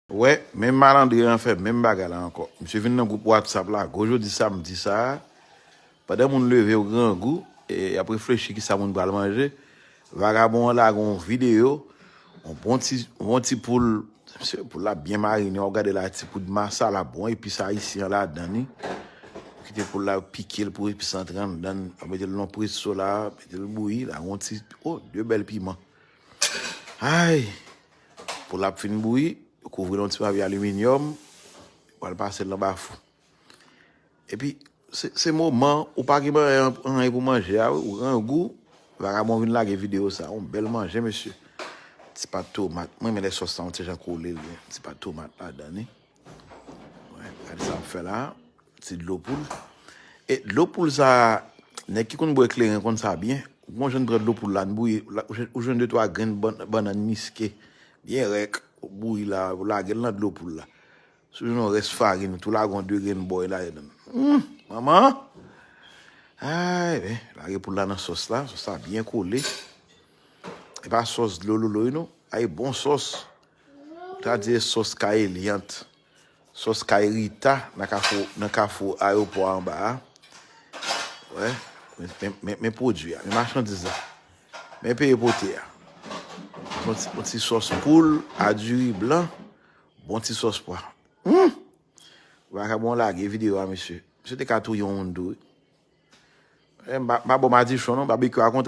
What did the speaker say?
Wè, menm malandren an fè menm bagay la ankò. Misye vin nan gwoup Whatsapp la gwo jodi samdi sa a, pandan moun leve yo grangou, e y ap reflechi ki sa moun pral manje, vagabon an lage yon videyo, yon bon ti, yon bon ti poul, misye, poul la byen marine, wap gade la ti poud masala bon epis ayisyen an ladan li, yo kite poul la yo pike l pou epis antre anndan l, yo mete l nan yon presso la, mete l bouyi, lage yon ti, o, de bèl piman. Ayy! Pou lap fin bouyi, ou kouvri l yon ti papye aliminyòm, ou al pase l nan bafou. Epi, se moman, ou pa gen anyen pou manje a wi, ou grangou, vagabon vin lage videyo sa, yon bèl manje mesye. Ti pat tomat, mwen renmen lè sòs lan yon ti jan kole li, ti pat tomat ladan li. Gade sa ap fè la. Ti dlo poul. E dlo poul sa, nèg ki konn bwè kleren konn sa byen. Ou konn jwenn pran dlo poul la, n bouyi, ou jwenn 2 3 grenn bannann miske byen rèk, ou bouyi la, ou lage l nan dlo poul la. Si w jwenn yon rès farin, ou tou lage yon 2 grenn bòy la ladan. Humm! Manman! Ayy men, lage poul la nan sòs la, sòs la byen kole. E pa sòs dlololoy non, ayy bon sòs. Gradye sos kay Eliante, sos kay Rita nan kafou ayopò anba a. Wè, men pwodui a, men machandiz la. Men peye pote a. Yon ti sos poul a diri blan, bon ti sos pwa. Humm! Vakabon lage videyo a mesye. Mesye te ka touye yon moun tou wi. M pa bo madichon non, babekyou a kontre.